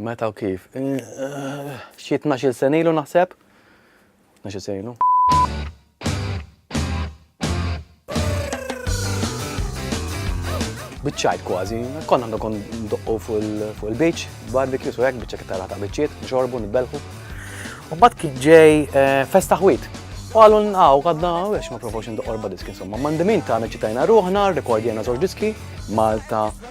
Meta u kif? Xi tnax-il sena ilu naħseb. Tnax-il sena ilu. Biċċajt kważi, konna għandu kon doqqu fuq il-beach, barbecue, so jek biċċa kittara ta' biċċiet, nxorbu, nibelħu. U bat kien ġej eh, festa ħwit. U għallu nqaw, għadna, għax ma provawx ndoqqorba diski, insomma, mandimin ta' ċitajna ruħna, rekordjena zoġ diski, Malta,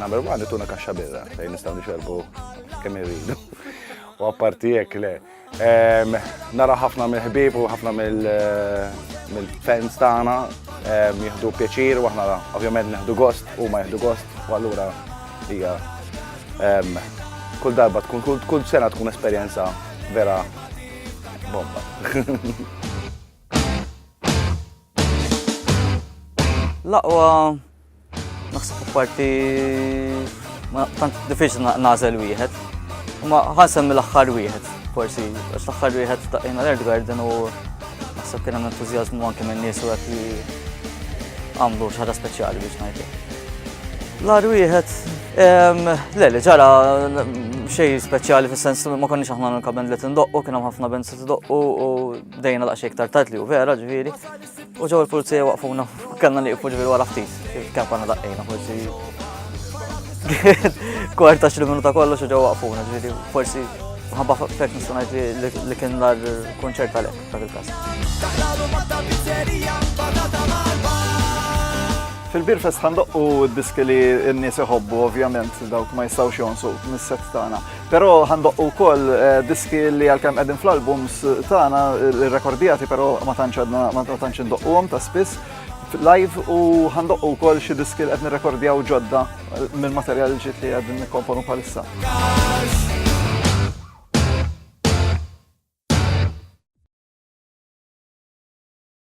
Number one, ituna kaxxa birra, fejn nistaw nixerbu kemm irridu. U apparti jekk le. Nara ħafna mill-ħbib u ħafna mill-fans tagħna jieħdu pjaċir u aħna ovvjament neħdu gost u ma jieħdu gost u allura hija kull darba tkun kull sena tkun esperjenza vera bomba. Laqwa Naħseb apparti ma tant diffiċli nażel wieħed. Ma ħansem mill-aħħar wieħed, forsi, għax l-aħħar wieħed ta' jena l-Erd Garden u naħseb kien hemm entużjażmu anke minn nies u qed li għamlu xi ħaġa speċjali biex ngħidlek. L-ar wieħed, le li ġara xej speċjali fis-sens ma konniex aħna nkaben li tindoqqu, kien hemm ħafna benzi tindoqqu u dejna daqsxejn iktar tard li u vera ġifieri. U ġew il-pulizija waqfuna, kellna li jifu ġifieri wara ftit, kemm konna daqqejna forsi. Kwarta xi minuta kollox u ġew waqfuna, ġifieri forsi ħabba fek nistgħu ngħid li kien l-ar kunċert għalhekk dak il-każ. Fil-Birfest ħandoqqu d-diski li n-nies iħobbu, ovvjament, dawk ma jistgħux jonsu mis-set tagħna. Però ħandoqqu wkoll eh, diski li għalkemm qegħdin fl-albums tagħna rekordjati però ma tantx għadna ma tantx indoqquhom ta' spiss live u ħandoqqu wkoll xi diski li qed nirrekordjaw ġodda eh, minn materjal ġiet li qegħdin nikkomponu bħalissa.